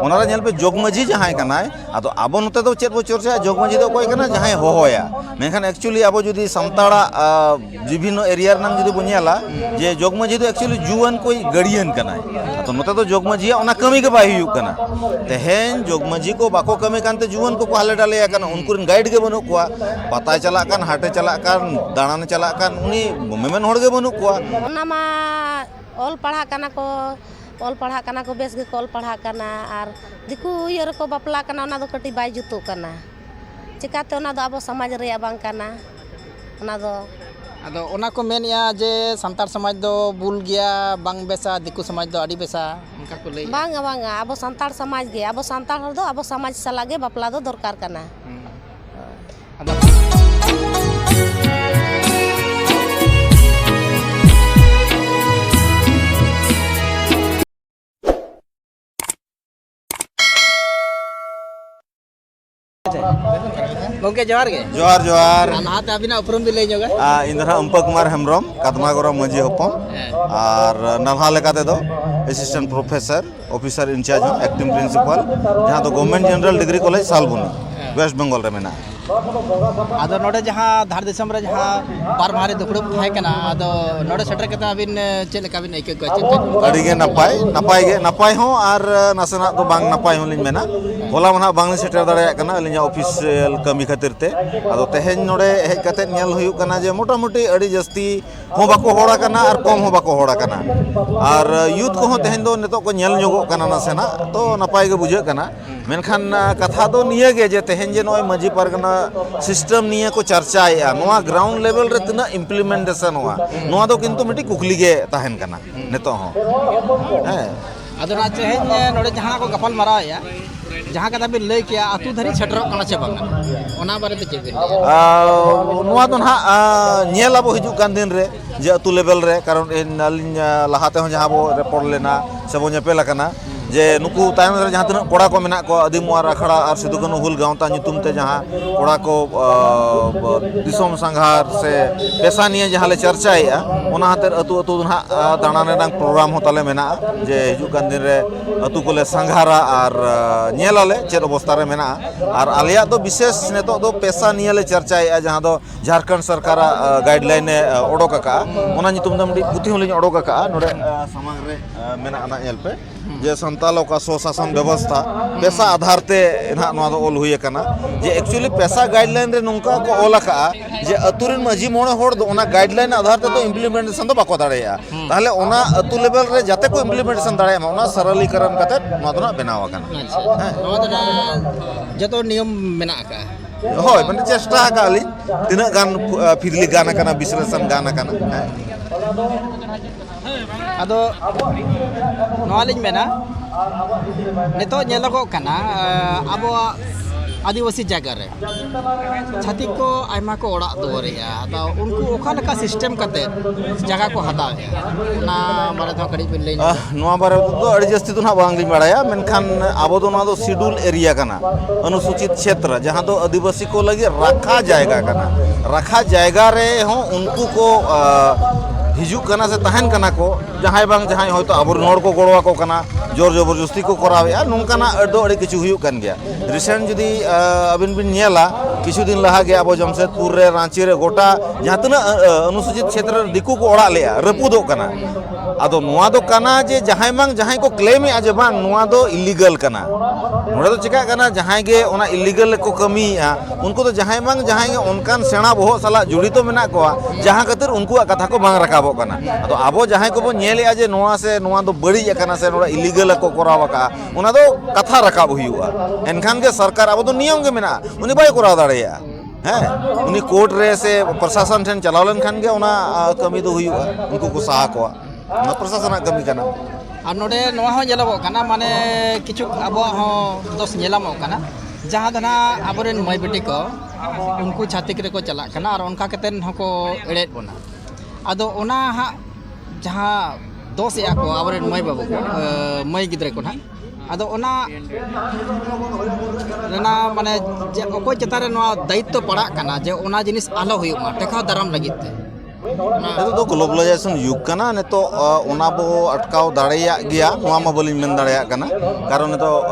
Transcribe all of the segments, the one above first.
ᱚᱱᱟᱨᱮ ᱧᱮᱞ ᱯᱮ ᱡᱚᱜᱽ ᱢᱟᱹᱡᱷᱤ ᱡᱟᱦᱟᱸᱭ ᱠᱟᱱᱟᱭ ᱟᱫᱚ ᱟᱵᱚ ᱱᱚᱛᱮ ᱫᱚ ᱪᱮᱫ ᱵᱚ ᱪᱚᱨᱪᱟᱭᱟ ᱡᱚᱜᱽ ᱢᱟᱹᱡᱷᱤ ᱫᱚ ᱚᱠᱚᱭ ᱠᱟᱱᱟ ᱡᱟᱦᱟᱸᱭ ᱦᱚᱦᱚᱭᱟ ᱢᱮᱱᱠᱷᱟᱱ ᱮᱠᱪᱩᱭᱮᱞᱤ ᱟᱵᱚ ᱡᱩᱫᱤ ᱥᱟᱱᱛᱟᱲᱟᱜ ᱵᱤᱵᱷᱤᱱᱱᱚ ᱮᱨᱤᱭᱟ ᱨᱮᱱᱟᱜ ᱡᱩᱫᱤ ᱵᱚ ᱧᱮᱞᱟ ᱡᱮ ᱡᱚᱜᱽ ᱢᱟᱹᱡᱷᱤ ᱫᱚ ᱮᱠᱪᱩᱭᱮᱞᱤ ᱡᱩᱣᱟᱹᱱ ᱠᱚᱭ ᱜᱟᱹᱲᱤᱭᱟᱹᱱ ᱠᱟᱱᱟᱭ ᱟᱫᱚ ᱱᱚᱛᱮ ᱫᱚ ᱡᱚᱜᱽ ᱢᱟᱹᱡᱷᱤᱭᱟᱜ ᱚᱱᱟ ᱠᱟᱹᱢᱤ ᱜᱮ ᱵᱟᱭ ᱦᱩᱭᱩᱜ ᱠᱟᱱᱟ ᱛᱮᱦᱮᱧ ᱡᱚᱜᱽ ᱢᱟᱹᱡᱷᱤ ᱠᱚ ᱵᱟᱠᱚ ᱠᱟᱹᱢᱤ ᱠᱟᱱᱛᱮ ᱡᱩᱣᱟᱹᱱ ᱠᱚᱠᱚ ᱦᱟᱞᱮ ᱰᱟᱞᱮᱭᱟ ᱠᱟᱱᱟ ᱩᱱᱠᱩ ᱨᱮᱱ ᱜᱟᱭᱤᱰ ᱜᱮ ᱵᱟᱹᱱᱩᱜ ᱠᱚᱣᱟ ᱯᱟᱛᱟᱭ ᱪᱟᱞᱟᱜ ᱠᱟᱱ ᱦᱟᱴᱮ ᱪᱟᱞᱟᱜ ᱠᱟᱱ ᱫᱟᱬᱟᱱᱮ ᱪᱟᱞᱟᱜ ᱠᱟᱱ ᱩᱱᱤ ᱢᱮᱢᱮᱱ ᱦᱚᱲ ᱜᱮ ᱵᱟᱹᱱᱩᱜ ᱠᱚᱣᱟ ᱚᱱᱟ ᱢᱟ ᱚᱞ ᱯᱟᱲᱦᱟᱜ ᱠᱟᱱᱟ ᱠᱚ ᱚᱞ ᱯᱟᱲᱦᱟᱜ ᱠᱟᱱᱟ ᱠᱚ ᱵᱮᱥ ᱜᱮᱠᱚ ᱚᱞ ᱯᱟᱲᱦᱟᱜ ᱠᱟᱱᱟ ᱟᱨ ᱫᱤᱠᱩ ᱤᱭᱟᱹ ᱨᱮᱠᱚ ᱵᱟᱯᱞᱟᱜ ᱠᱟᱱᱟ ᱚᱱᱟ ᱫᱚ ᱠᱟᱹᱴᱤᱡ ᱵᱟᱭ ᱡᱩᱛᱩᱜ ᱠᱟᱱᱟ ᱪᱤᱠᱟᱹᱛᱮ ᱚᱱᱟ ᱫᱚ ᱟᱵᱚ ᱥᱚᱢᱟᱡᱽ ᱨᱮᱭᱟᱜ ᱵᱟᱝ ᱠᱟᱱᱟ ᱚᱱᱟ ᱫᱚ ᱟᱫᱚ ᱚᱱᱟ ᱠᱚ ᱢᱮᱱᱮᱜᱼᱟ ᱡᱮ ᱥᱟᱱᱛᱟᱲ ᱥᱚᱢᱟᱡᱽ ᱫᱚ ᱵᱩᱞ ᱜᱮᱭᱟ ᱵᱟᱝ ᱵᱮᱥᱟ ᱫᱤᱠᱩ ᱥᱚᱢᱟᱡᱽ ᱫᱚ ᱟᱹᱰᱤ ᱵᱮᱥᱟ ᱚᱱᱠᱟ ᱠᱚ ᱞᱟᱹᱭᱟ ᱵᱟᱝᱟ ᱵᱟᱝᱟ ᱟᱵᱚ ᱥᱟᱱᱛᱟᱲ ᱥᱚᱢᱟᱡᱽ ᱜᱮ ᱟᱵᱚ ᱥᱟᱱᱛᱟᱲ ᱦᱚᱲ ᱫᱚ ᱟᱵᱚ ᱥᱚᱢᱟᱡᱽ ᱥᱟᱞᱟᱜ ᱜᱮ ᱵᱟᱯᱞᱟ ᱫᱚ ᱫᱚᱨᱠᱟᱨ ᱠᱟᱱᱟ ᱜᱚᱝᱠᱮ ᱡᱚᱦᱟᱨ ᱜᱮ ᱡᱚᱦᱟᱨ ᱡᱚᱦᱟᱨ ᱞᱟᱦᱟᱛᱮ ᱟᱹᱵᱤᱱᱟᱜ ᱩᱯᱨᱩᱢ ᱵᱤᱱ ᱞᱟᱹᱭ ᱧᱚᱜᱟ ᱤᱧ ᱫᱚ ᱦᱟᱸᱜ ᱩᱢᱯᱟ ᱠᱩᱢᱟᱨ ᱦᱮᱢᱵᱨᱚᱢ ᱠᱟᱫᱢᱟᱜᱚᱨᱚ ᱢᱟᱹᱡᱷᱤ ᱦᱚᱯᱚᱱ ᱟᱨ ᱱᱟᱞᱦᱟ ᱞᱮᱠᱟ ᱛᱮᱫᱚ ᱮᱥᱤᱥᱴᱮᱱᱴ ᱯᱨᱚᱯᱷᱮᱥᱚᱨ ᱚᱯᱷᱤᱥᱟᱨ ᱤᱱᱪᱟᱨᱡᱽ ᱦᱚᱸ ᱮᱠᱴᱤᱝ ᱯᱨᱤᱱᱥᱤᱯᱟᱞ ᱡᱟᱦᱟᱸ ᱫᱚ government general degree college Salboni West Bengal ᱨᱮ ᱢᱮᱱᱟᱜᱼᱟ ᱟᱫᱚ ᱱᱚᱰᱮ ᱡᱟᱦᱟᱸ ᱫᱷᱟᱨ ᱫᱤᱥᱚᱢ ᱨᱮ ᱡᱟᱦᱟᱸ ᱵᱟᱨ ᱢᱟᱦᱟ ᱨᱮ ᱫᱩᱯᱲᱩᱵ ᱛᱟᱦᱮᱸ ᱠᱟᱱᱟ ᱟᱫᱚ ᱱᱚᱰᱮ ᱥᱮᱴᱮᱨ ᱠᱟᱛᱮ ᱟᱹᱵᱤᱱ ᱪᱮᱫ ᱞᱮᱠᱟ ᱵᱤᱱ ᱟᱹᱭᱠᱟᱹᱣ ᱠᱮᱫᱟ ᱪᱮᱫ ᱪᱮᱫ ᱟᱹᱰᱤ ᱜᱮ ᱱᱟᱯᱟᱭ ᱱᱟᱯᱟᱭ ᱜᱮ ᱱᱟᱯᱟᱭ ᱦᱚᱸ ᱟᱨ ᱱᱟᱥᱮᱱᱟᱜ ᱫᱚ ᱵᱟᱝ ᱱᱟᱯᱟᱭ ᱦᱚᱸ ᱞᱤᱧ ᱢᱮᱱᱟ ᱦᱚᱞᱟ ᱢᱟ ᱱᱟᱦᱟᱜ ᱵᱟᱝᱞᱤᱧ ᱥᱮᱴᱮᱨ ᱫᱟᱲᱮᱭᱟᱜ ᱠᱟᱱᱟ ᱟᱹᱞᱤᱧᱟᱜ ᱚᱯᱷᱤᱥᱤᱭᱟᱞ ᱠᱟᱹᱢᱤ ᱠᱷᱟᱹᱛᱤᱨ ᱛᱮ ᱟᱫᱚ ᱛᱮᱦᱮᱧ ᱱᱚᱰᱮ ᱦᱮᱡ ᱠᱟᱛᱮ ᱧᱮᱞ ᱦᱩᱭᱩᱜ ᱠᱟᱱᱟ ᱡᱮ ᱢᱚᱴᱟᱢᱩᱴᱤ ᱟᱹᱰᱤ ᱡᱟᱹᱥᱛᱤ ᱦᱚᱸ ᱵᱟᱠᱚ ᱦᱚᱲ ᱟᱠᱟᱱᱟ ᱟᱨ ᱠᱚᱢ ᱦᱚᱸ ᱵᱟᱠᱚ ᱦᱚᱲ ᱟᱠᱟᱱᱟ ᱟᱨ ᱭᱩᱛᱷ ᱠᱚᱦᱚᱸ ᱛᱮᱦᱮᱧ ᱫᱚ ᱱᱤᱛᱚᱜ ᱠᱚ ᱧᱮᱞ ᱧᱚᱜᱚᱜ ᱠᱟᱱᱟ ᱱᱟᱥᱮᱱᱟᱜ ᱛᱚ ᱱᱟᱯᱟᱭ ᱜᱮ ᱵᱩᱡᱷᱟᱹᱜ ᱠᱟᱱᱟ ᱢᱮᱱᱠᱷᱟᱱ ᱠᱟᱛᱷᱟ ᱫᱚ ᱱᱤᱭᱟᱹ ᱜᱮ ᱡᱮ ᱛᱮᱦᱮᱧ ᱡᱮ ᱱᱚᱜᱼᱚᱭ ᱢᱟᱺᱡᱷᱤ ᱯᱟᱨᱜᱟᱱᱟ ᱥᱤᱥᱴᱮᱢ ᱱᱤᱭᱟᱹ ᱠᱚ ᱪᱟᱨᱪᱟᱭᱮᱫᱼᱟ ᱱᱚᱣᱟ ᱜᱨᱟᱣᱩᱱᱰ ᱞᱮᱵᱮᱞ ᱨᱮ ᱛᱤᱱᱟᱹᱜ ᱤᱢᱯᱞᱤᱢᱮᱱᱴᱮᱥᱚᱱᱚᱜᱼᱟ ᱱᱚᱣᱟ ᱫᱚ ᱠᱤᱱᱛᱩ ᱢᱤᱫᱴᱤᱡ ᱠᱩᱠᱞᱤ ᱜᱮ ᱛᱟᱦᱮᱱ ᱠᱟᱱᱟ ᱱᱤᱛᱚᱜ ᱦᱚᱸ ᱦᱮᱸ ᱟᱫᱚ ᱱᱟ ᱛᱮᱦᱮᱧ ᱱᱚᱰᱮ ᱡᱟᱦᱟᱸ ᱠᱚ ᱜᱟᱯᱟᱞ ᱢᱟᱨᱟᱣᱮᱜᱼᱟ ᱡᱟᱦᱟᱸ ᱠᱟᱛᱷᱟ ᱵᱤᱱ ᱞᱟᱹᱭ ᱠᱮᱜᱼᱟ ᱟᱛᱳ ᱫᱷᱟᱹᱨᱤᱡ ᱥᱮᱴᱮᱨᱚᱜ ᱠᱟᱱᱟ ᱥᱮ ᱵᱟᱝᱟ ᱚᱱᱟ ᱵᱟᱨᱮ ᱛᱮ ᱪᱮᱫ ᱵᱤᱱ ᱞᱟᱹᱭᱟ ᱱᱚᱣᱟ ᱫᱚ ᱱᱟᱦᱟᱜ ᱧᱮᱞ ᱟᱵᱚ ᱦᱤᱡᱩᱜ ᱠᱟᱱ ᱫᱤᱱ ᱨᱮ ᱡᱮ ᱟᱛᱳ ᱞᱮᱵᱮᱞ ᱨᱮ ᱠᱟᱨᱚᱱ ᱟᱹᱞᱤᱧ ᱞᱟᱦᱟ ᱛᱮᱦᱚᱸ ᱡᱟᱦᱟᱸ ᱵᱚ ᱨᱮᱯᱚᱲ ᱞᱮᱱᱟ ᱥᱮ ᱵᱚ ᱧᱮᱯᱮᱞ ᱟᱠᱟᱱᱟ ᱡᱮ ᱱᱩᱠᱩ ᱛᱟᱭᱚᱢ ᱨᱮ ᱡᱟᱦᱟᱸ ᱛᱤᱱᱟᱹᱜ ᱠᱚᱲᱟ ᱠᱚ ᱢᱮᱱᱟᱜ ᱠᱚᱣᱟ ᱟᱹᱫᱤᱢ ᱚᱣᱟᱨ ᱟᱠᱷᱲᱟ ᱟᱨ ᱥᱤᱫᱩ ᱠᱟᱹᱱᱦᱩ ᱦᱩᱞ ᱜᱟᱶᱛᱟ ᱧᱩᱛᱩᱢ ᱛᱮ ᱡᱟᱦᱟᱸ ᱠᱚᱲᱟ ᱠᱚ ᱫᱤᱥᱚᱢ ᱥᱟᱸᱜᱷᱟᱨ ᱥᱮ ᱯᱮᱥᱟ ᱱᱤᱭᱮ ᱡᱟᱦᱟᱸ ᱞᱮ ᱪᱟᱨᱪᱟᱭᱮᱜᱼᱟ ᱚᱱᱟ ᱦᱟᱛᱮᱨ ᱟᱹᱛᱩ ᱟᱹᱛᱩ ᱫᱚ ᱱᱟᱦᱟᱜ ᱫᱟᱬᱟᱱ ᱨᱮᱱᱟᱜ ᱯᱨᱳᱜᱨᱟᱢ ᱦᱚᱸ ᱛᱟᱞᱮ ᱢᱮᱱᱟᱜᱼᱟ ᱡᱮ ᱦᱤᱡᱩᱜ ᱠᱟᱱ ᱫᱤᱱ ᱨᱮ ᱟᱹᱛᱩ ᱠᱚᱞᱮ ᱥᱟᱸᱜᱷᱟᱨᱟ ᱟᱨ ᱧᱮᱞ ᱟᱞᱮ ᱪᱮᱫ ᱚᱵᱚᱥᱛᱟ ᱨᱮ ᱢᱮᱱᱟᱜᱼᱟ ᱟᱨ ᱟᱞᱮᱭᱟᱜ ᱫᱚ ᱵᱤᱥᱮᱥ ᱱᱤᱛᱚᱜ ᱫᱚ ᱯᱮᱥᱟ ᱱᱤᱭᱮ ᱞᱮ ᱪᱟᱨᱪᱟᱭᱮᱜᱼᱟ ᱡᱟᱦᱟᱸ ᱫᱚ ᱡᱷᱟᱨᱠᱷᱚᱸᱰ ᱥᱚᱨᱠᱟᱨᱟᱜ ᱜᱟᱭᱤᱰᱞᱟᱭᱤᱱ ᱮ ᱚᱰᱚᱠ ᱟᱠᱟᱜᱼᱟ ᱚᱱᱟ ᱧᱩᱛᱩᱢ ᱛᱮ ᱢᱤᱫᱴᱤᱡ ᱯᱩᱛᱷᱤ ᱦᱚᱸᱞᱤᱧ ᱚᱰᱚᱠ ᱟᱠᱟᱜᱼᱟ ᱱᱚᱰᱮ ᱥᱟᱢᱟᱝ ᱨᱮ ᱢᱮᱱᱟᱜᱼᱟ ᱱᱟᱦᱟᱜ ᱧᱮᱞ ᱯᱮ ᱡᱮ ᱥᱟᱱᱛᱟᱲ ᱚᱠᱟ ᱥᱚᱥᱟᱥᱚᱱ ᱵᱮᱵᱚᱥᱛᱷᱟ ᱯᱮᱥᱟ ᱟᱫᱷᱟᱨ ᱛᱮ ᱱᱟᱦᱟᱜ ᱱᱚᱣᱟ ᱫᱚ ᱚᱞ ᱦᱩᱭ ᱟᱠᱟᱱᱟ ᱡᱮ ᱮᱠᱪᱩᱭᱮᱞᱤ ᱯᱮᱥᱟ ᱜᱟᱭᱤᱰᱞᱟᱭᱤᱱ ᱨᱮ ᱱᱚᱝᱠᱟ ᱠᱚ ᱚᱞ ᱟᱠᱟᱜᱼᱟ ᱡᱮ ᱟᱹᱛᱩ ᱨᱮᱱ ᱢᱟᱺᱡᱷᱤ ᱢᱚᱬᱮ ᱦᱚᱲ ᱫᱚ ᱚᱱᱟ ᱜᱟᱭᱤᱰᱞᱟᱭᱤᱱ ᱟᱫᱷᱟᱨ ᱛᱮᱫᱚ ᱤᱢᱯᱞᱤᱢᱮᱱᱴᱮᱥᱚᱱ ᱫᱚ ᱵᱟᱠᱚ ᱫᱟᱲᱮᱭᱟᱜᱼᱟ ᱛᱟᱦᱚᱞᱮ ᱚᱱᱟ ᱟᱹᱛᱩ ᱞᱮᱵᱮᱞ ᱨᱮ ᱡᱟᱛᱮ ᱠᱚ ᱤᱢᱯᱞᱤᱢᱮᱱᱴᱮᱥᱚᱱ ᱫᱟᱲᱮᱭᱟᱜ ᱢᱟ ᱚᱱᱟ ᱥᱟᱨᱟᱞᱤᱠᱟᱨᱚᱱ ᱠᱟᱛᱮ ᱱᱚᱣᱟ ᱫᱚ ᱱᱟᱦᱟᱜ ᱵᱮᱱᱟᱣ ᱟᱠᱟᱱᱟ ᱱᱚᱣᱟ ᱫᱚ ᱱᱟᱦᱟᱜ ᱡᱚᱛᱚ ᱱᱤᱭᱚᱢ ᱢᱮᱱᱟᱜ ᱟᱠᱟᱜᱼᱟ ᱦᱳᱭ ᱢᱟᱱᱮ ᱪᱮᱥᱴᱟ ᱟᱠᱟᱫ ᱟᱹᱞᱤᱧ ᱛᱤᱱᱟᱹᱜ ᱜᱟᱱ ᱯᱷᱤᱨᱞᱤ ᱜᱟᱱ ᱟᱠᱟᱱᱟ ᱵᱤᱥᱞᱮᱥᱚᱱ ᱜᱟᱱ ᱟᱠᱟᱱᱟ ᱦᱮᱸ ᱟᱫᱚ ᱱᱚᱣᱟ ᱞᱤᱧ ᱢᱮᱱᱟ ᱱᱤᱛᱚᱜ ᱧᱮᱞᱚᱜᱚᱜ ᱠᱟᱱᱟ ᱟᱵᱚᱣᱟᱜ ᱟᱹᱫᱤᱵᱟᱹᱥᱤ ᱡᱟᱭᱜᱟ ᱨᱮ ᱪᱷᱟᱹᱛᱤᱠ ᱠᱚ ᱟᱭᱢᱟ ᱠᱚ ᱚᱲᱟᱜ ᱫᱩᱣᱟᱹᱨᱮᱜᱼᱟ ᱟᱫᱚ ᱩᱱᱠᱩ ᱚᱠᱟ ᱞᱮᱠᱟ ᱥᱤᱥᱴᱮᱢ ᱠᱟᱛᱮ ᱡᱟᱭᱜᱟ ᱠᱚ ᱦᱟᱛᱟᱣᱮᱜᱼᱟ ᱚᱱᱟ ᱵᱟᱨᱮ ᱛᱮᱦᱚᱸ ᱠᱟᱹᱴᱤᱡ ᱵᱤᱱ ᱞᱟᱹᱭ ᱱᱚᱣᱟ ᱵᱟᱨᱮ ᱛᱮᱫᱚ ᱟᱹᱰᱤ ᱡᱟᱹᱥᱛᱤ ᱫᱚ ᱱᱟᱦᱟᱜ ᱵᱟᱝᱞᱤᱧ ᱵᱟᱲᱟᱭᱟ ᱢᱮᱱᱠᱷᱟᱱ ᱟᱵᱚ ᱫᱚ ᱱᱚᱣᱟ ᱫᱚ ᱥᱤᱰᱩᱞ ᱮᱨᱤᱭᱟ ᱠᱟᱱᱟ ᱚᱱᱩᱥᱩᱪᱤᱛ ᱪᱷᱮᱛᱨᱚ ᱡᱟᱦᱟᱸ ᱫᱚ ᱟᱹᱫᱤᱵᱟᱹᱥᱤ ᱠᱚ ᱞᱟᱹᱜᱤᱫ ᱨᱟᱠᱷᱟ ᱡᱟᱭᱜᱟ ᱠᱟᱱᱟ ᱨᱟᱠᱷᱟ ᱡᱟᱭᱜᱟ ᱨᱮ ᱦᱚᱸ ᱩᱱᱠᱩ ᱠᱚ ᱦᱤᱡᱩᱜ ᱠᱟᱱᱟ ᱥᱮ ᱛᱟᱦᱮᱱ ᱠᱟᱱᱟ ᱠᱚ ᱡᱟᱦᱟᱸᱭ ᱵᱟᱝ ᱡᱟᱦᱟᱸᱭ ᱦᱚᱭᱛᱳ ᱟᱵᱚᱨᱮᱱ ᱦᱚᱲ ᱠᱚ ᱜᱚᱲᱚ ᱟᱠᱚ ᱠᱟᱱᱟ ᱡᱳᱨ ᱡᱚᱵᱚᱨᱡᱚᱥᱛᱤ ᱠᱚ ᱠᱚᱨᱟᱣᱮᱫᱼᱟ ᱱᱚᱝᱠᱟᱱᱟᱜ ᱟᱹᱰᱤ ᱟᱹᱰᱤ ᱠᱤᱪᱷᱩ ᱦᱩᱭᱩᱜ ᱠᱟᱱ ᱜᱮᱭᱟ ᱨᱤᱥᱮᱱᱴ ᱡᱩᱫᱤ ᱟᱹᱵᱤᱱ ᱵᱤᱱ ᱧᱮᱞᱟ ᱠᱤᱪᱷᱩ ᱫᱤᱱ ᱞᱟᱦᱟ ᱜᱮ ᱟᱵᱚ ᱡᱟᱢᱥᱮᱫᱽᱯᱩᱨ ᱨᱮ ᱨᱟᱺᱪᱤ ᱨᱮ ᱜᱚᱴᱟ ᱡᱟᱦᱟᱸ ᱛᱤᱱᱟᱹᱜ ᱚᱱᱩᱥᱩᱪᱤᱛ ᱪᱷᱮᱛᱨᱚ ᱨᱮ ᱫᱤᱠᱩ ᱠᱚ ᱚᱲᱟᱜ ᱞᱮᱫᱼᱟ ᱨᱟᱹᱯᱩᱫᱚᱜ ᱠᱟᱱᱟ ᱟᱫᱚ ᱱᱚᱣᱟ ᱫᱚ ᱠᱟᱱᱟ ᱡᱮ ᱡᱟᱦᱟᱸᱭ ᱵᱟᱝ ᱡᱟᱦᱟᱸᱭ ᱠᱚ ᱠᱞᱮᱢᱮᱫᱼᱟ ᱡᱮ ᱵᱟᱝ ᱱᱚᱣᱟ ᱫᱚ ᱤᱞᱤᱜᱟᱞ ᱠᱟᱱᱟ ᱱᱚᱰᱮ ᱫᱚ ᱪᱮᱠᱟᱜ ᱠᱟᱱᱟ ᱡᱟᱦᱟᱸᱭ ᱜᱮ ᱚᱱᱟ ᱤᱞᱤᱜᱟᱞ ᱨᱮᱠᱚ ᱠᱟᱹᱢᱤᱭᱮᱫᱼᱟ ᱩᱱᱠᱩ ᱫᱚ ᱡᱟᱦᱟᱸᱭ ᱵᱟᱝ ᱡᱟᱦᱟᱸᱭ ᱜᱮ ᱚᱱᱠᱟᱱ ᱥᱮᱬᱟ ᱵᱚᱦᱚᱜ ᱥᱟᱞᱟᱜ ᱡᱚᱲᱤᱛᱚ ᱢᱮᱱᱟᱜ ᱠᱚᱣᱟ ᱡᱟᱦᱟᱸ ᱠᱷᱟᱹᱛᱤᱨ ᱩᱱᱠᱩᱣᱟᱜ ᱠᱟᱛᱷᱟ ᱠᱚ ᱵᱟᱝ ᱨᱟᱠᱟᱵᱚᱜ ᱠᱟᱱᱟ ᱟᱫᱚ ᱟᱵᱚ ᱡᱟᱦᱟᱸᱭ ᱠᱚᱵᱚ ᱧᱮᱞᱮᱫᱼᱟ ᱡᱮ ᱱᱚᱣᱟ ᱥᱮ ᱱᱚᱣᱟ ᱫᱚ ᱵᱟᱹᱲᱤᱡ ᱟᱠᱟᱱᱟ ᱥᱮ ᱱᱚᱣᱟ ᱤᱞᱤᱜᱟᱞ ᱠᱚ ᱠᱚᱨᱟᱣ ᱟᱠᱟᱫᱼᱟ ᱚᱱᱟ ᱫᱚ ᱠᱟᱛᱷᱟ ᱨᱟᱠᱟᱵ ᱦᱩᱭᱩᱜᱼᱟ ᱮᱱᱠᱷᱟᱱ ᱜᱮ ᱥᱚᱨᱠᱟᱨ ᱟᱵᱚ ᱫᱚ ᱱᱤᱭᱚᱢ ᱜᱮ ᱢᱮᱱᱟᱜᱼᱟ ᱩᱱᱤ ᱵᱟᱭ ᱠᱚᱨᱟᱣ ᱫᱟᱲᱮᱭᱟᱜᱼᱟ ᱦᱮᱸ ᱩᱱᱤ ᱠᱳᱨᱴ ᱨᱮ ᱥᱮ ᱯᱨᱚᱥᱟᱥᱚᱱ ᱴᱷᱮᱱ ᱪᱟᱞᱟᱣ ᱞᱮᱱᱠᱷᱟᱱ ᱜᱮ ᱚᱱᱟ ᱠᱟᱹᱢᱤ ᱫᱚ ᱦᱩᱭᱩᱜᱼᱟ ᱩᱱᱠᱩ ᱠᱚ ᱥᱟᱦᱟ ᱠᱚᱣᱟ ᱚᱱᱟ ᱯᱨᱚᱥᱟᱥᱚᱱᱟᱜ ᱠᱟᱹᱢᱤ ᱠᱟᱱᱟ ᱟᱨ ᱱᱚᱰᱮ ᱱᱚᱣᱟ ᱦᱚᱸ ᱧᱮᱞᱚᱜᱚᱜ ᱠᱟᱱᱟ ᱢᱟᱱᱮ ᱠᱤᱪᱷᱩ ᱟᱵᱚᱣᱟᱜ ᱦᱚᱸ ᱫᱚᱥ ᱧᱮᱞᱟᱢᱚᱜ ᱠᱟᱱᱟ ᱡᱟᱦᱟᱸ ᱫᱚ ᱱᱟᱦᱟᱜ ᱟᱵᱚᱨᱮᱱ ᱢᱟᱹᱭ ᱵᱤᱴᱤ ᱠᱚ ᱩᱱᱠᱩ ᱪᱷᱟᱹᱛᱤᱠ ᱨᱮᱠᱚ ᱪᱟᱞᱟᱜ ᱠᱟᱱᱟ ᱟᱨ ᱚᱱᱠᱟ ᱠᱟᱛᱮᱫ ᱦᱚᱸᱠᱚ ᱮᱲᱮᱭᱮᱫ ᱵᱚᱱᱟ ᱟᱫᱚ ᱚᱱᱟ ᱦᱟᱸᱜ ᱡᱟᱦᱟᱸ ᱫᱚᱥᱮᱜᱼᱟ ᱠᱚ ᱟᱵᱚᱨᱮᱱ ᱢᱟᱹᱭ ᱵᱟᱹᱵᱩ ᱠᱚ ᱢᱟᱹᱭ ᱜᱤᱫᱽᱨᱟᱹ ᱠᱚ ᱱᱟᱦᱟᱜ ᱟᱫᱚ ᱚᱱᱟ ᱨᱮᱱᱟᱜ ᱢᱟᱱᱮ ᱡᱮ ᱚᱠᱚᱭ ᱪᱮᱛᱟᱱ ᱨᱮ ᱱᱚᱣᱟ ᱫᱟᱭᱤᱛᱛᱚ ᱯᱟᱲᱟᱜ ᱠᱟᱱᱟ ᱡᱮ ᱚᱱᱟ ᱡᱤᱱᱤᱥ ᱟᱞᱚ ᱦᱩᱭᱩᱜ ᱢᱟ ᱴᱮᱠᱟᱣ ᱫᱟᱨᱟᱢ ᱞᱟᱹᱜᱤᱫ ᱛᱮ ᱱᱤᱛᱚᱜ ᱫᱚ ᱜᱞᱳᱵᱟᱞᱟᱭᱡᱮᱥᱚᱱ ᱡᱩᱜᱽ ᱠᱟᱱᱟ ᱱᱤᱛᱚᱜ ᱚᱱᱟ ᱵᱚ ᱟᱴᱠᱟᱣ ᱫᱟᱲᱮᱭᱟᱜ ᱜᱮᱭᱟ ᱱᱚᱣᱟ ᱢᱟ ᱵᱟᱹᱞᱤᱧ ᱢᱮᱱ ᱫᱟᱲᱮᱭᱟᱜ ᱠᱟᱱᱟ ᱠᱟᱨᱚᱱ ᱱᱤᱛᱚᱜ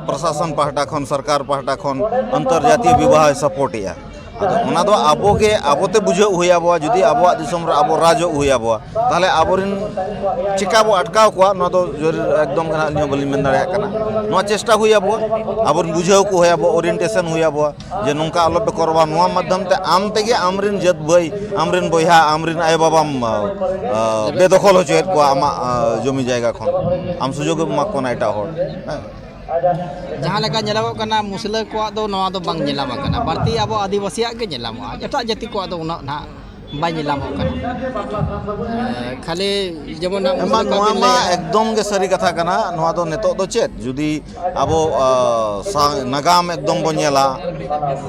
ᱯᱨᱚᱥᱟᱥᱚᱱ ᱯᱟᱦᱴᱟ ᱠᱷᱚᱱ ᱥᱚᱨᱠᱟᱨ ᱯᱟᱦᱴᱟ ᱠᱷᱚᱱ ᱟᱱᱛᱚᱨᱡᱟᱛᱤᱭᱚ ᱵᱤᱵᱟᱦᱚᱭ ᱥᱟᱯᱳᱨᱴᱮᱜᱼᱟ ᱟᱫᱚ ᱚᱱᱟ ᱫᱚ ᱟᱵᱚ ᱜᱮ ᱟᱵᱚ ᱛᱮ ᱵᱩᱡᱷᱟᱹᱣ ᱦᱩᱭ ᱟᱵᱚᱣᱟ ᱡᱩᱫᱤ ᱟᱵᱚᱣᱟᱜ ᱫᱤᱥᱚᱢ ᱨᱮ ᱟᱵᱚ ᱨᱟᱡᱚᱜ ᱦᱩᱭ ᱟᱵᱚᱣᱟ ᱛᱟᱦᱚᱞᱮ ᱟᱵᱚ ᱨᱮᱱ ᱪᱤᱠᱟᱹ ᱵᱚ ᱟᱴᱠᱟᱣ ᱠᱚᱣᱟ ᱱᱚᱣᱟ ᱫᱚ ᱮᱠᱫᱚᱢ ᱜᱮ ᱦᱟᱸᱜ ᱟᱹᱞᱤᱧ ᱦᱚᱸ ᱵᱟᱹᱞᱤᱧ ᱢᱮᱱ ᱫᱟᱲᱮᱭᱟᱜ ᱠᱟᱱᱟ ᱱᱚᱣᱟ ᱪᱮᱥᱴᱟ ᱦᱩᱭ ᱟᱵᱚᱣᱟ ᱟᱵᱚ ᱨᱮᱱ ᱵᱩᱡᱷᱟᱹᱣ ᱠᱚ ᱦᱩᱭ ᱟᱵᱚᱣᱟ ᱳᱨᱤᱭᱮᱱᱴᱮᱥᱚᱱ ᱦᱩᱭ ᱟᱵᱚᱣᱟ ᱡᱮ ᱱᱚᱝᱠᱟ ᱟᱞᱚ ᱯᱮ ᱠᱚᱨᱟᱣᱟ ᱱᱚᱣᱟ ᱢᱟᱫᱽᱫᱷᱚᱢ ᱛᱮ ᱟᱢ ᱛᱮᱜᱮ ᱟᱢ ᱨᱮᱱ ᱡᱟᱹᱛ ᱵᱷᱟᱹᱭ ᱟᱢ ᱨᱮᱱ ᱵᱚᱭᱦᱟ ᱟᱢ ᱨᱮᱱ ᱟᱭᱳ ᱵᱟᱵᱟᱢ ᱵᱮᱫᱚᱠᱷᱚᱞ ᱦᱚᱪᱚᱭᱮᱫ ᱠᱚᱣᱟ ᱟᱢᱟᱜ ᱡᱚᱢᱤ ᱡᱟᱭᱜᱟ ᱠᱷᱚᱱ ᱟᱢ ᱥᱩᱡᱳᱜᱽ ᱮᱢ ᱮᱢᱟ ᱠᱚ ᱠᱟᱱᱟ ᱮᱴᱟᱜ ᱦᱚᱲ ᱦᱮᱸ ᱡᱟᱦᱟᱸ ᱞᱮᱠᱟ ᱧᱮᱞᱚᱜᱚᱜ ᱠᱟᱱᱟ ᱢᱩᱥᱞᱟᱹ ᱠᱚᱣᱟᱜ ᱫᱚ ᱱᱚᱣᱟ ᱫᱚ ᱵᱟᱝ ᱧᱮᱞᱟᱢ ᱟᱠᱟᱱᱟ ᱵᱟᱹᱲᱛᱤ ᱟᱵᱚ ᱟᱹᱫᱤᱵᱟᱹᱥᱤᱭᱟᱜ ᱜᱮ ᱧᱮᱞᱟᱢᱚᱜᱼᱟ ᱮᱴᱟᱜ ᱡᱟᱹᱛᱤ ᱠᱚᱣᱟᱜ ᱫᱚ ᱩᱱᱟᱹᱜ ᱱᱟᱦᱟᱜ ᱵᱟᱭ ᱧᱮᱞᱟᱢᱚᱜ ᱠᱟᱱᱟ ᱠᱷᱟᱹᱞᱤ ᱡᱮᱢᱚᱱ ᱱᱚᱣᱟ ᱢᱟ ᱮᱠᱫᱚᱢ ᱜᱮ ᱥᱟᱹᱨᱤ ᱠᱟᱛᱷᱟ ᱠᱟᱱᱟ ᱱᱚᱣᱟ ᱫᱚ ᱱᱤᱛᱚᱜ ᱫᱚ ᱪᱮᱫ ᱡᱩᱫᱤ ᱟᱵᱚ ᱱᱟᱜᱟᱢ ᱮᱠᱫᱚᱢ ᱵᱚᱱ ᱧᱮᱞᱟ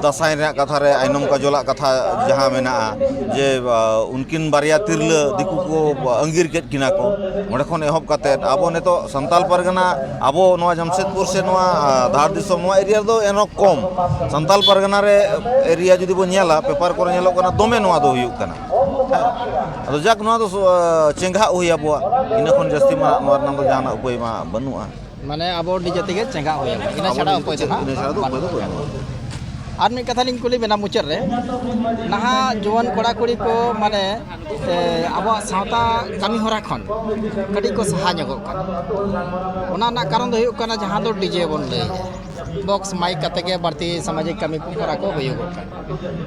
ᱫᱟᱸᱥᱟᱭ ᱨᱮᱱᱟᱜ ᱠᱟᱛᱷᱟ ᱨᱮ ᱟᱭᱱᱚᱢ ᱠᱟᱡᱚᱞᱟᱜ ᱠᱟᱛᱷᱟ ᱡᱟᱦᱟᱸ ᱢᱮᱱᱟᱜᱼᱟ ᱡᱮ ᱩᱱᱠᱤᱱ ᱵᱟᱨᱭᱟ ᱛᱤᱨᱞᱟᱹ ᱫᱤᱠᱩ ᱠᱚ ᱟᱺᱜᱤᱨ ᱠᱮᱫ ᱠᱤᱱᱟ ᱠᱚ ᱚᱸᱰᱮ ᱠᱷᱚᱱ ᱮᱦᱚᱵ ᱠᱟᱛᱮᱫ ᱟᱵᱚ ᱱᱤᱛᱚᱜ ᱥᱟᱱᱛᱟᱞ ᱯᱟᱨᱜᱟᱱᱟ ᱟᱵᱚ ᱱᱚᱣᱟ ᱡᱟᱢᱥᱮᱫᱽᱯᱩᱨ ᱥᱮ ᱱᱚᱣᱟ ᱫᱷᱟᱲ ᱫᱤᱥᱚᱢ ᱱᱚᱣᱟ ᱮᱨᱤᱭᱟ ᱨᱮᱫᱚ ᱮᱱᱦᱚᱸ ᱠᱚᱢ ᱥᱟᱱᱛᱟᱞ ᱯᱟᱨᱜᱟᱱᱟ ᱨᱮ ᱮᱨᱤᱭᱟ ᱡᱩᱫᱤ ᱵᱚᱱ ᱧᱮᱞᱟ ᱯᱮᱯᱟᱨ ᱠᱚᱨᱮ ᱧᱮᱞᱚᱜ ᱠᱟᱱᱟ ᱫᱚᱢᱮ ᱱᱚᱣᱟ ᱫᱚ ᱦᱩᱭᱩᱜ ᱠᱟᱱᱟ ᱟᱫᱚ ᱡᱟᱠ ᱱᱚᱣᱟ ᱫᱚ ᱪᱮᱸᱜᱷᱟᱜ ᱦᱩᱭ ᱟᱵᱚᱣᱟ ᱤᱱᱟᱹ ᱠᱷᱚᱱ ᱡᱟᱹᱥᱛᱤ ᱢᱟ ᱱᱚᱣᱟ ᱨᱮᱱᱟᱜ ᱫᱚ ᱡᱟᱦᱟᱱᱟᱜ ᱩᱯᱟᱹᱭ ᱢᱟ ᱵᱟᱹᱱᱩᱜᱼᱟ ᱢᱟᱱᱮ ᱟᱵᱚ ᱱᱤᱡᱮ ᱛᱮᱜᱮ ᱪᱮᱸᱜᱟ ᱦᱩᱭ ᱟᱵᱚᱱᱟ ᱤᱱᱟᱹ ᱪᱷᱟᱲᱟ ᱩᱯᱟᱹᱭ ᱫᱚ ᱱᱟᱦᱟᱜ ᱵᱟᱹᱱᱩᱜᱼᱟ ᱟᱨ ᱢᱤᱫ ᱠᱟᱛᱷᱟ ᱞᱤᱧ ᱠᱩᱞᱤ ᱵᱮᱱᱟ ᱢᱩᱪᱟᱹᱫ ᱨᱮ ᱱᱟᱦᱟᱜ ᱡᱩᱣᱟᱹᱱ ᱠᱚᱲᱟ ᱠᱩᱲᱤ ᱠᱚ ᱢᱟᱱᱮ ᱟᱵᱚᱣᱟᱜ ᱥᱟᱶᱛᱟ ᱠᱟᱹᱢᱤ ᱦᱚᱨᱟ ᱠᱷᱚᱱ ᱠᱟᱹᱴᱤᱡ ᱠᱚ ᱥᱟᱦᱟ ᱧᱚᱜᱚᱜ ᱠᱟᱱᱟ ᱚᱱᱟ ᱨᱮᱱᱟᱜ ᱠᱟᱨᱚᱱ ᱫᱚ ᱦᱩᱭᱩᱜ ᱠᱟᱱᱟ ᱡᱟᱦᱟᱸ ᱫᱚ ᱰᱤᱡᱮ ᱵᱚᱱ ᱞᱟᱹᱭᱮᱫᱼᱟ ᱵᱚᱠᱥ ᱢᱟᱭᱤᱠ ᱠᱟᱛᱮ ᱜᱮ ᱵᱟᱹᱲᱛᱤ ᱥᱟᱢᱟᱡᱤᱠ ᱠᱟᱹᱢᱤ ᱠᱚ ᱦᱚᱨᱟ ᱠᱚ ᱦᱩᱭᱩᱜᱚᱜ ᱠᱟᱱᱟ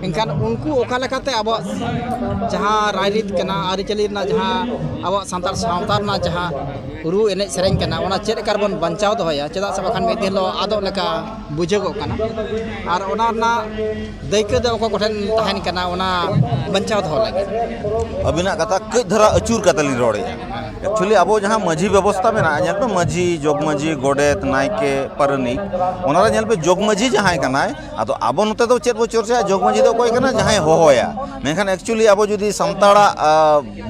ᱮᱱᱠᱷᱟᱱ ᱩᱱᱠᱩ ᱚᱠᱟ ᱞᱮᱠᱟᱛᱮ ᱟᱵᱚᱣᱟᱜ ᱡᱟᱦᱟᱸ ᱨᱟᱭᱨᱤᱛ ᱠᱟᱱᱟ ᱟᱹᱨᱤᱪᱟᱹᱞᱤ ᱨᱮᱱᱟᱜ ᱡᱟᱦᱟᱸ ᱟᱵᱚᱣᱟᱜ ᱥᱟᱱᱛᱟᱲ ᱥᱟᱶᱛᱟ ᱨᱮᱱᱟᱜ ᱡᱟᱦᱟᱸ ᱨᱩ ᱮᱱᱮᱡ ᱥᱮᱨᱮᱧ ᱠᱟᱱᱟ ᱚᱱᱟ ᱪᱮᱫ ᱞᱮᱠᱟ ᱨᱮᱵᱚᱱ ᱵᱟᱧᱪᱟᱣ ᱫᱚᱦᱚᱭᱟ ᱪᱮᱫᱟᱜ ᱥᱮ ᱵᱟᱠᱷᱟᱱ ᱢᱤᱫ ᱫᱤᱱ ᱦᱤᱞᱳᱜ ᱟᱫᱚᱜ ᱞᱮᱠᱟ ᱵᱩᱡᱷᱟᱹᱜᱚᱜ ᱠᱟᱱᱟ ᱟᱨ ᱚᱱᱟ ᱨᱮᱱᱟᱜ ᱫᱟᱹᱭᱠᱟᱹ ᱫᱚ ᱚᱠᱚᱭ ᱠᱚᱴᱷᱮᱱ ᱛᱟᱦᱮᱱ ᱠᱟᱱᱟ ᱚᱱᱟ ᱵᱟᱧᱪᱟᱣ ᱫᱚᱦᱚ ᱞᱟᱹᱜᱤᱫ ᱟᱹᱵᱤᱱᱟᱜ ᱠᱟᱛᱷᱟ ᱠᱟᱹᱡ ᱫᱷᱟᱨᱟ ᱟᱹᱪᱩᱨ ᱠᱟᱛᱮ ᱞᱤᱧ ᱨᱚᱲᱮᱜᱼᱟ ᱮᱠᱪᱩᱭᱮᱞᱤ ᱟᱵᱚ ᱡᱟᱦᱟᱸ ᱢᱟᱹᱡᱷᱤ ᱵᱮᱵᱚᱥᱛᱟ ᱢᱮᱱᱟᱜᱼᱟ ᱧᱮᱞ ᱯᱮ ᱢᱟᱹᱡᱷᱤ ᱡᱚᱜᱽ ᱢᱟᱹᱡᱷᱤ ᱜᱚᱰᱮᱛ ᱱᱟᱭᱠᱮ ᱯᱟᱨᱟᱱᱤᱠ ᱚᱱᱟᱨᱮ ᱧᱮᱞ ᱯᱮ ᱡᱚᱜᱽ ᱢᱟᱹᱡᱷᱤ ᱡᱟᱦᱟᱸᱭ ᱠᱟᱱᱟᱭ ᱟᱫᱚ ᱟᱵᱚ ᱱᱚᱛᱮ ᱫᱚ ᱪᱮᱫ ᱵᱚ ᱪᱚᱨᱪᱟᱭᱟ ᱡᱚᱜᱽ ᱢᱟᱹᱡᱷᱤ ᱫᱚ ᱚᱠᱚᱭ ᱠᱟᱱᱟᱭ ᱡᱟᱦᱟᱸᱭ ᱦᱚᱦᱚᱭᱟ ᱢᱮᱱᱠᱷᱟᱱ ᱮᱠᱪᱩᱭᱮᱞᱤ ᱟᱵᱚ ᱡᱩᱫᱤ ᱥᱟᱱᱛᱟᱲᱟᱜ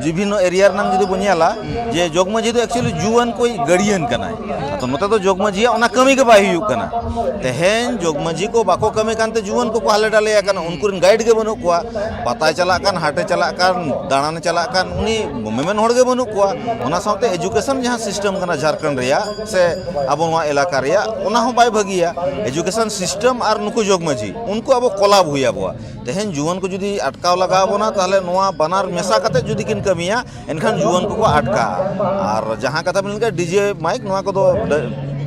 ᱵᱤᱵᱷᱤᱱᱱᱚ ᱮᱨᱤᱭᱟ ᱨᱮᱱᱟᱜ ᱡᱩᱫᱤ ᱵᱚ ᱧᱮᱞᱟ ᱡᱮ ᱡᱚᱜᱽ ᱢᱟᱹᱡᱷᱤ ᱫᱚ ᱮᱠᱪᱩᱭᱮᱞᱤ ᱡᱩᱣᱟᱹᱱ ᱠᱚ ᱜᱟᱹᱲᱤᱭᱟᱹᱱ ᱠᱟᱱᱟᱭ ᱟᱫᱚ ᱱᱚᱛᱮ ᱫᱚ ᱡᱚᱜᱽ ᱢᱟᱹᱡᱷᱤᱭᱟᱜ ᱚᱱᱟ ᱠᱟᱹᱢᱤ ᱜᱮ ᱵᱟᱭ ᱦᱩᱭᱩᱜ ᱠᱟᱱᱟ ᱛᱮᱦᱮᱧ ᱡᱚᱜᱽ ᱢᱟᱹᱡᱷᱤ ᱠᱚ ᱵᱟᱠᱚ ᱠᱟᱹᱢᱤ ᱠᱟᱱᱛᱮ ᱡᱩᱣᱟᱹᱱ ᱠᱚᱠᱚ ᱦᱟᱞᱮ ᱰᱟᱞᱮᱭᱟ ᱠᱟᱱᱟ ᱩᱱᱠᱩ ᱨᱮᱱ ᱜᱟᱭᱤᱰ ᱜᱮ ᱵᱟᱹᱱᱩᱜ ᱠᱚᱣᱟ ᱯᱟᱛᱟᱭ ᱪᱟᱞᱟᱜ ᱠᱟᱱ ᱦᱟᱴᱮ ᱪᱟᱞᱟᱜ ᱠᱟᱱ ᱫᱟᱬᱟᱱᱮ ᱪᱟᱞᱟᱜ ᱠᱟᱱ ᱩᱱᱤ ᱢᱮᱢᱮᱱ ᱦᱚᱲ ᱜᱮ ᱵᱟᱹᱱᱩᱜ ᱠᱚᱣᱟ ᱚᱱᱟ ᱥᱟᱶᱛᱮ ᱮᱡᱩᱠᱮᱥᱚᱱ ᱡᱟᱦᱟᱸ ᱥᱤᱥᱴᱮᱢ ᱠᱟᱱᱟ ᱡᱷᱟᱲᱠᱷᱚᱸᱰ ᱨᱮᱭᱟᱜ ᱥᱮ ᱟᱵᱚ ᱱᱚᱣᱟ ᱮᱞᱟᱠᱟ ᱨᱮᱭᱟᱜ ᱚᱱᱟ ᱦᱚᱸ ᱵᱟᱭ ᱵᱷᱟᱹᱜᱤᱭᱟ ᱮᱡᱩᱠᱮᱥᱚᱱ ᱥᱤᱥᱴᱮᱢ ᱟᱨ ᱱᱩᱠᱩ ᱡᱚᱜᱽ ᱢᱟᱹᱡᱷᱤ ᱩᱱᱠᱩ ᱟᱵᱚ ᱠᱚᱞᱟᱵᱽ ᱦᱩᱭ ᱟᱵᱚᱣᱟ ᱛᱮᱦᱮᱧ ᱡᱩᱣᱟᱹᱱ ᱠᱚ ᱡᱩᱫᱤ ᱟᱴᱠᱟᱣ ᱞᱟᱜᱟᱣ ᱵᱚᱱᱟ ᱛᱟᱦᱚᱞᱮ ᱱᱚᱣᱟ ᱵᱟᱱᱟᱨ ᱢᱮᱥᱟ ᱠᱟᱛᱮ ᱡᱩᱫᱤ ᱠᱤᱱ ᱠᱟᱹᱢᱤᱭᱟ ᱮᱱᱠᱷᱟᱱ ᱡᱩᱣᱟᱹᱱ ᱠᱚᱠᱚ ᱟᱴᱠᱟᱜᱼᱟ ᱟᱨ ᱡᱟᱦᱟᱸ ᱠᱟᱛᱷᱟ ᱵᱤᱱ ᱞᱟᱹᱭ ᱠᱮᱫᱟ ᱰᱤᱡᱮ ᱢᱟᱭᱤᱠ ᱱᱚᱣᱟ ᱠᱚᱫᱚ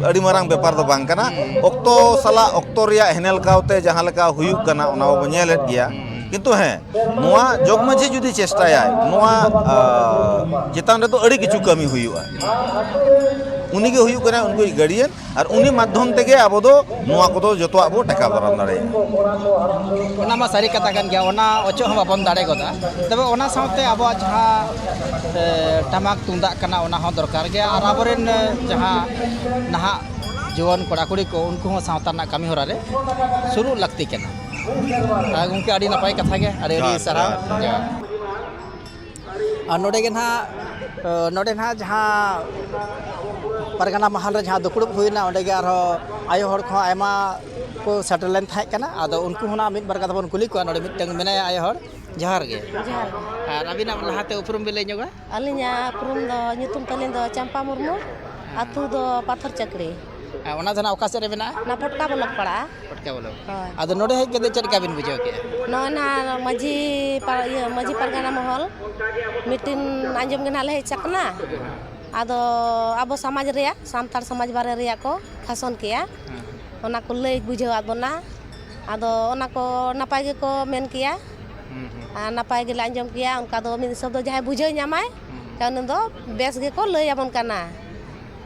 ᱟᱹᱰᱤ ᱢᱟᱨᱟᱝ ᱵᱮᱯᱟᱨ ᱫᱚ ᱵᱟᱝ ᱠᱟᱱᱟ ᱚᱠᱛᱚ ᱥᱟᱞᱟᱜ ᱚᱠᱛᱚ ᱨᱮᱭᱟᱜ ᱦᱮᱱᱮᱞ ᱠᱟᱣᱛᱮ ᱡᱟᱦᱟᱸ ᱞᱮᱠᱟ ᱦᱩᱭᱩᱜ ᱠᱟᱱᱟ ᱚᱱᱟ ᱢᱟᱵᱚᱱ ᱧᱮᱞᱮᱫ ᱜᱮᱭᱟ ᱠᱤᱱᱛᱩ ᱦᱮᱸ ᱱᱚᱣᱟ ᱡᱚᱜᱽ ᱢᱟᱹᱡᱷᱤ ᱡᱩᱫᱤ ᱪᱮᱥᱴᱟᱭᱟᱭ ᱱᱚᱣᱟ ᱪᱮᱛᱟᱱ ᱨᱮᱫᱚ ᱟᱹᱰᱤ ᱠᱤᱪᱷᱩ ᱠᱟᱹᱢᱤ ᱦᱩᱭᱩᱜᱼᱟ ᱩᱱᱤᱜᱮ ᱦᱩᱭᱩᱜ ᱠᱟᱱᱟ ᱩᱱᱠᱩ ᱜᱟᱹᱰᱤᱭᱟᱱ ᱟᱨ ᱩᱱᱤ ᱢᱟᱫᱽᱫᱷᱚᱢ ᱛᱮᱜᱮ ᱟᱵᱚ ᱫᱚ ᱱᱚᱣᱟ ᱠᱚᱫᱚ ᱡᱚᱛᱚᱣᱟᱜ ᱵᱚ ᱴᱮᱠᱟᱣ ᱫᱟᱨᱟᱢ ᱫᱟᱲᱮᱭᱟᱜᱼᱟ ᱚᱱᱟ ᱢᱟ ᱥᱟᱹᱨᱤ ᱠᱟᱛᱷᱟ ᱠᱟᱱ ᱜᱮᱭᱟ ᱚᱱᱟ ᱚᱪᱚᱜ ᱦᱚᱸ ᱵᱟᱵᱚᱱ ᱫᱟᱲᱮ ᱜᱚᱫᱟ ᱛᱚᱵᱮ ᱚᱱᱟ ᱥᱟᱶᱛᱮ ᱟᱵᱚᱣᱟᱜ ᱡᱟᱦᱟᱸ ᱴᱟᱢᱟᱠ ᱛᱩᱢᱫᱟᱜ ᱠᱟᱱᱟ ᱚᱱᱟ ᱦᱚᱸ ᱫᱚᱨᱠᱟᱨ ᱜᱮᱭᱟ ᱟᱨ ᱟᱵᱚᱨᱮᱱ ᱡᱟᱦᱟᱸ ᱱᱟᱦᱟᱜ ᱡᱩᱣᱟᱹᱱ ᱠᱚᱲᱟ ᱠᱩᱲᱤ ᱠᱚ ᱩᱱᱠᱩ ᱦᱚᱸ ᱥᱟᱶᱛᱟ ᱨᱮᱱᱟᱜ ᱠᱟᱹᱢᱤ ᱦᱚᱨᱟ ᱨᱮ ᱥᱩᱨᱩᱜ ᱞᱟᱹᱠᱛᱤ ᱠᱟᱱᱟ ᱜᱚᱢᱠᱮ ᱟᱹᱰᱤ ᱱᱟᱯᱟᱭ ᱠᱟᱛᱷᱟ ᱜᱮ ᱟᱹᱰᱤ ᱟᱹᱰᱤ ᱥᱟᱨᱦᱟᱣ ᱟᱨ ᱱᱚᱰᱮ ᱜᱮ ᱱᱟᱦᱟᱜ ᱱᱚᱰᱮ ᱱᱟᱦᱟᱜ ᱡᱟᱦᱟᱸ ᱯᱟᱨᱜᱟᱱᱟ ᱢᱟᱦᱟᱞ ᱨᱮ ᱡᱟᱦᱟᱸ ᱫᱩᱯᱲᱩᱵ ᱦᱩᱭᱱᱟ ᱚᱸᱰᱮ ᱜᱮ ᱟᱨᱦᱚᱸ ᱟᱭᱳ ᱦᱚᱲ ᱠᱚᱦᱚᱸ ᱟᱭᱢᱟ ᱠᱚ ᱥᱮᱴᱮᱨ ᱞᱮᱱ ᱛᱟᱦᱮᱸ ᱠᱟᱱᱟ ᱟᱫᱚ ᱩᱱᱠᱩ ᱦᱚᱸ ᱱᱟᱦᱟᱜ ᱢᱤᱫ ᱵᱟᱨ ᱠᱟᱛᱷᱟ ᱵᱚᱱ ᱠᱩᱞᱤ ᱠᱚᱣᱟ ᱱᱚᱰᱮ ᱢᱤᱫᱴᱟᱹᱝ ᱢᱮᱱᱟᱭᱟ ᱟᱭᱳ ᱦᱚᱲ ᱡᱚᱦᱟᱨ ᱜᱮ ᱟᱨ ᱟᱹᱵᱤᱱᱟᱜ ᱞᱟᱦᱟᱛᱮ ᱩᱯᱨᱩᱢ ᱵᱤᱱ ᱞᱟᱹᱭ ᱧᱚᱜᱟ ᱟᱹᱞᱤᱧᱟᱜ ᱩᱯᱨᱩᱢ ᱫᱚ ᱧᱩᱛᱩᱢ ᱛᱟᱹᱞᱤᱧ ᱫᱚ ᱪᱟᱢᱯᱟ ᱢᱩᱨᱢᱩ ᱟᱛᱳ ᱫᱚ ᱯᱟᱛᱷᱚᱨ ᱪᱟᱹᱠᱲᱤ ᱟᱨ ᱚᱱᱟ ᱫᱚ ᱱᱟᱜ ᱚᱠᱟ ᱥᱮᱫ ᱨᱮ ᱢᱮᱱᱟᱜᱼᱟ ᱚᱱᱟ ᱯᱚᱴᱠᱟ ᱵᱞᱚᱠ ᱯᱟᱲᱟᱜᱼᱟ ᱯᱚᱴᱠᱟ ᱵᱞᱚᱠ ᱦᱳᱭ ᱟᱫᱚ ᱱᱚᱰᱮ ᱦᱮᱡ ᱠᱟᱛᱮᱫ ᱪᱮᱫ ᱞᱮᱠᱟ ᱵᱤᱱ ᱵᱩᱡᱷᱟᱹᱣ ᱠᱮᱜᱼᱟ ᱱᱚᱜᱼᱚᱭ ᱱᱟᱜ ᱢᱟᱺᱡᱷᱤ ᱤᱭᱟᱹ ᱢᱟᱺᱡᱷᱤ ᱯᱟᱨᱜᱟᱱᱟ ᱢᱚᱦᱚᱞ ᱢᱤᱴᱤᱱ ᱟᱸᱡᱚᱢ ᱜᱮ ᱱᱟᱜ ᱞᱮ ᱦᱮᱡ ᱟᱠᱟᱱᱟ ᱟᱫᱚ ᱟᱵᱚ ᱥᱚᱢᱟᱡᱽ ᱨᱮᱭᱟᱜ ᱥᱟᱱᱛᱟᱲ ᱥᱚᱢᱟᱡᱽ ᱵᱟᱨᱮ ᱨᱮᱭᱟᱜ ᱠᱚ ᱵᱷᱟᱥᱚᱱ ᱠᱮᱜᱼᱟ ᱚᱱᱟ ᱠᱚ ᱞᱟᱹᱭ ᱵᱩᱡᱷᱟᱹᱣᱟᱫ ᱵᱚᱱᱟ ᱟᱫᱚ ᱚᱱᱟ ᱠᱚ ᱱᱟᱯᱟᱭ ᱜᱮᱠᱚ ᱢᱮᱱ ᱠᱮᱜᱼᱟ ᱟᱨ ᱱᱟᱯᱟᱭ ᱜᱮᱞᱮ ᱟᱸᱡᱚᱢ ᱠᱮᱭᱟ ᱚᱱᱠᱟ ᱫᱚ ᱢᱤᱫ ᱦᱤᱥᱟᱹᱵ ᱫᱚ ᱡᱟᱦᱟᱸᱭ ᱵᱩᱡᱷᱟᱹᱣ ᱧᱟᱢᱟᱭ ᱩᱱᱤ ᱫᱚ ᱵᱮᱥ ᱜᱮᱠᱚ ᱞᱟᱹᱭ ᱟᱵᱚᱱ ᱠᱟᱱᱟ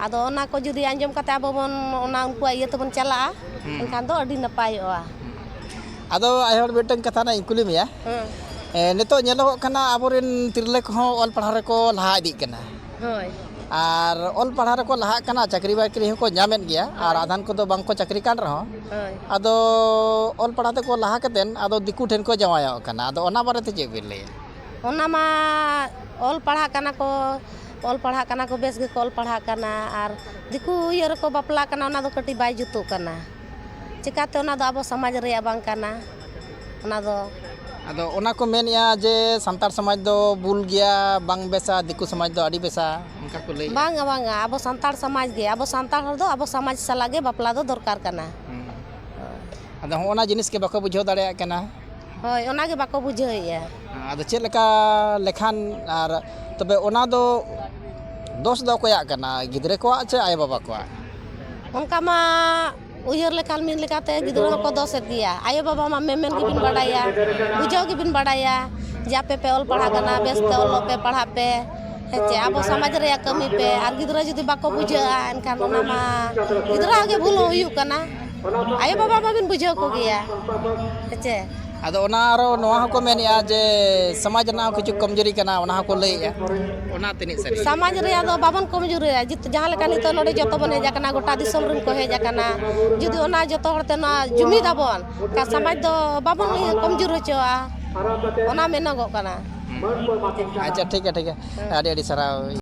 ᱟᱫᱚ ᱚᱱᱟ ᱠᱚ ᱡᱩᱫᱤ ᱟᱸᱡᱚᱢ ᱠᱟᱛᱮ ᱟᱵᱚ ᱵᱚᱱ ᱚᱱᱟ ᱩᱱᱠᱩᱣᱟᱜ ᱤᱭᱟᱹ ᱛᱮᱵᱚᱱ ᱪᱟᱞᱟᱜᱼᱟ ᱮᱱᱠᱷᱟᱱ ᱫᱚ ᱟᱹᱰᱤ ᱱᱟᱯᱟᱭᱚᱜᱼᱟ ᱟᱫᱚ ᱟᱭᱳ ᱦᱚᱲ ᱢᱤᱫᱴᱟᱝ ᱠᱟᱛᱷᱟ ᱦᱟᱸᱜ ᱤᱧ ᱠᱩᱞᱤ ᱢᱮᱭᱟ ᱱᱤᱛᱚᱜ ᱧᱮᱞᱚᱜᱚᱜ ᱠᱟᱱᱟ ᱟᱵᱚᱨᱮᱱ ᱛᱤᱨᱞᱟᱹ ᱠᱚᱦᱚᱸ ᱚᱞ ᱯᱟᱲᱦᱟᱣ ᱨᱮᱠᱚ ᱞᱟᱦᱟ ᱤᱫᱤᱜ ᱠᱟᱱᱟ ᱦᱳᱭ ᱟᱨ ᱚᱞ ᱯᱟᱲᱦᱟᱣ ᱨᱮᱠᱚ ᱞᱟᱦᱟᱜ ᱠᱟᱱᱟ ᱪᱟᱹᱠᱨᱤ ᱵᱟᱹᱠᱨᱤ ᱦᱚᱸᱠᱚ ᱧᱟᱢᱮᱫ ᱜᱮᱭᱟ ᱟᱨ ᱟᱫᱷᱟᱱ ᱠᱚᱫᱚ ᱵᱟᱝᱠᱚ ᱪᱟᱹᱠᱨᱤ ᱠᱟᱱ ᱨᱮᱦᱚᱸ ᱦᱳᱭ ᱟᱫᱚ ᱚᱞ ᱯᱟᱲᱦᱟᱣ ᱛᱮᱠᱚ ᱞᱟᱦᱟ ᱠᱟᱛᱮᱫ ᱟᱫᱚ ᱫᱤᱠᱩ ᱴᱷᱮᱱ ᱠᱚ ᱡᱟᱶᱟᱭᱚᱜ ᱠᱟᱱᱟ ᱟᱫᱚ ᱚᱱᱟ ᱵᱟᱨᱮᱛᱮ ᱪᱮᱫ ᱵᱤᱱ ᱞᱟᱹᱭᱟ ᱚᱱᱟ ᱢᱟ ᱚᱞ ᱯᱟᱲᱦᱟᱜ ᱠᱟᱱᱟ ᱠᱚ ᱚᱞ ᱯᱟᱲᱦᱟᱜ ᱠᱟᱱᱟ ᱠᱚ ᱵᱮᱥ ᱜᱮᱠᱚ ᱚᱞ ᱯᱟᱲᱦᱟᱜ ᱠᱟᱱᱟ ᱟᱨ ᱫᱤᱠᱩ ᱤᱭᱟᱹ ᱨᱮᱠᱚ ᱵᱟᱯᱞᱟᱜ ᱠᱟᱱᱟ ᱚᱱᱟ ᱫᱚ ᱠᱟᱹᱴᱤᱡ ᱵᱟᱭ ᱡᱩᱛᱩᱜ ᱠᱟᱱᱟ ᱪᱤᱠᱟᱹᱛᱮ ᱚᱱᱟ ᱫᱚ ᱟᱵᱚ ᱥᱚᱢᱟᱡᱽ ᱨᱮᱭᱟᱜ ᱵᱟᱝ ᱠᱟᱱᱟ ᱚᱱᱟ ᱫᱚ ᱟᱫᱚ ᱚᱱᱟ ᱠᱚ ᱢᱮᱱᱮᱜᱼᱟ ᱡᱮ ᱥᱟᱱᱛᱟᱲ ᱥᱚᱢᱟᱡᱽ ᱫᱚ ᱵᱩᱞ ᱜᱮᱭᱟ ᱵᱟᱝ ᱵᱮᱥᱟ ᱫᱤᱠᱩ ᱥᱚᱢᱟᱡᱽ ᱫᱚ ᱟᱹᱰᱤ ᱵᱮᱥᱟ ᱚᱱᱠᱟ ᱠᱚ ᱞᱟᱹᱭᱮᱜᱼᱟ ᱵᱟᱝᱟ ᱵᱟᱝᱟ ᱟᱵᱚ ᱥᱟᱱᱛᱟᱲ ᱥᱚᱢᱟᱡᱽ ᱜᱮ ᱟᱵᱚ ᱥᱟᱱᱛᱟᱲ ᱦᱚᱲ ᱫᱚ ᱟᱵᱚ ᱥᱚᱢᱟᱡᱽ ᱥᱟᱞᱟᱜ ᱜᱮ ᱵᱟᱯᱞᱟ ᱫᱚ ᱫᱚᱨᱠᱟᱨ ᱠᱟᱱᱟ ᱦᱮᱸ ᱟᱫᱚ ᱦᱚᱸᱜᱼᱚ ᱱᱟ ᱡᱤᱱᱤᱥ ᱜᱮ ᱵᱟᱠᱚ ᱵᱩᱡᱷᱟᱹᱣ ᱫᱟᱲᱮᱭᱟᱜ ᱠᱟᱱᱟ ᱦᱳᱭ ᱚᱱᱟ ᱜᱮ ᱵᱟᱠᱚ ᱵᱩᱡᱷᱟᱹᱣᱮᱜᱼᱟ ᱟᱫᱚ ᱪᱮᱫ ᱞᱮᱠᱟ ᱞᱮᱠᱷᱟᱱ ᱟᱨ ᱛᱚᱵᱮ ᱚᱱᱟ ᱫᱚ ᱫᱳᱥ ᱫᱚ ᱚᱠᱚᱭᱟᱜ ᱠᱟᱱᱟ ᱜᱤᱫᱽᱨᱟᱹ ᱠᱚᱣᱟᱜ ᱪᱮ ᱟᱭᱳᱼᱵᱟᱵᱟ ᱠᱚᱣᱟᱜ ᱚᱱᱠᱟ ᱢᱟ ᱩᱭᱦᱟᱹᱨ ᱞᱮᱠᱷᱟᱱ ᱢᱤᱫ ᱞᱮᱠᱟᱛᱮ ᱜᱤᱫᱽᱨᱟᱹ ᱦᱚᱸᱠᱚ ᱫᱚᱥᱮᱫ ᱜᱮᱭᱟ ᱟᱭᱳ ᱵᱟᱵᱟ ᱢᱟ ᱢᱮᱢᱮᱱ ᱜᱮᱵᱤᱱ ᱵᱟᱰᱟᱭᱟ ᱵᱩᱡᱷᱟᱹᱣ ᱜᱮᱵᱤᱱ ᱵᱟᱰᱟᱭᱟ ᱡᱮ ᱟᱯᱮ ᱯᱮ ᱚᱞ ᱯᱟᱲᱦᱟᱜ ᱠᱟᱱᱟ ᱵᱮᱥ ᱛᱮ ᱚᱞᱚᱜ ᱯᱮ ᱯᱟᱲᱦᱟᱜ ᱯᱮ ᱦᱮᱸ ᱪᱮ ᱟᱵᱚ ᱥᱚᱢᱟᱡᱽ ᱨᱮᱭᱟᱜ ᱠᱟᱹᱢᱤ ᱯᱮ ᱟᱨ ᱜᱤᱫᱽᱨᱟᱹ ᱡᱩᱫᱤ ᱵᱟᱠᱚ ᱵᱩᱡᱷᱟᱹᱜᱼᱟ ᱮᱱᱠᱷᱟᱱ ᱚᱱᱟ ᱢᱟ ᱜᱤᱫᱽᱨᱟᱹᱣᱟᱜ ᱜᱮ ᱵᱷᱩᱞ ᱦᱩᱭᱩᱜ ᱠᱟᱱᱟ ᱟᱭᱳ ᱵᱟᱵᱟ ᱢᱟᱵᱤᱱ ᱵᱩᱡᱷᱟᱹᱣ ᱠᱚᱜᱮᱭᱟ ᱦᱮᱸ ᱪᱮ ᱟᱫᱚ ᱚᱱᱟ ᱟᱨᱚ ᱱᱚᱣᱟ ᱦᱚᱸᱠᱚ ᱢᱮᱱᱮᱜᱼᱟ ᱡᱮ ᱥᱚᱢᱟᱡᱽ ᱨᱮᱱᱟᱜ ᱦᱚᱸ ᱠᱤᱪᱷᱩ ᱠᱚᱢᱡᱩᱨᱤ ᱠᱟᱱᱟ ᱚᱱᱟ ᱦᱚᱸᱠᱚ ᱞᱟᱹᱭᱮᱜᱼᱟ ᱚᱱᱟ ᱛᱤᱱᱟᱹᱜ ᱥᱟᱹᱨᱤ ᱥᱚᱢᱟᱡᱽ ᱨᱮᱭᱟᱜ ᱫᱚ ᱵᱟᱵᱚᱱ ᱠᱚᱢᱡᱩᱨᱤᱭᱟ ᱡᱟᱦᱟᱸ ᱞᱮᱠᱟ ᱱᱤᱛᱚᱜ ᱱᱚᱰᱮ ᱡᱚᱛᱚ ᱵᱚᱱ ᱦᱮᱡ ᱟᱠᱟᱱᱟ ᱜᱚᱴᱟ ᱫᱤᱥᱚᱢ ᱨᱮᱱ ᱠᱚ ᱦᱮᱡ ᱟᱠᱟᱱᱟ ᱡᱩᱫᱤ ᱚᱱᱟ ᱡᱚᱛᱚ ᱦᱚᱲ ᱛᱮ ᱱᱚᱣᱟ ᱡᱩᱢᱤᱫ ᱟᱵᱚᱱ ᱮᱱᱠᱷᱟᱱ ᱥᱚᱢᱟᱡᱽ ᱫᱚ ᱵᱟᱵᱚᱱ ᱠᱚᱢᱡᱩᱨ ᱦᱚᱪᱚᱣᱟᱜᱼᱟ ᱚᱱᱟ ᱢᱮᱱᱚᱜᱚᱜ ᱠᱟᱱᱟ ᱟᱪᱪᱷᱟ ᱴᱷᱤᱠ ᱜᱮᱭᱟ ᱴᱷᱤᱠ ᱜᱮᱭᱟ ᱟᱹᱰᱤ ᱟᱹᱰᱤ ᱥᱟᱨᱦᱟᱣ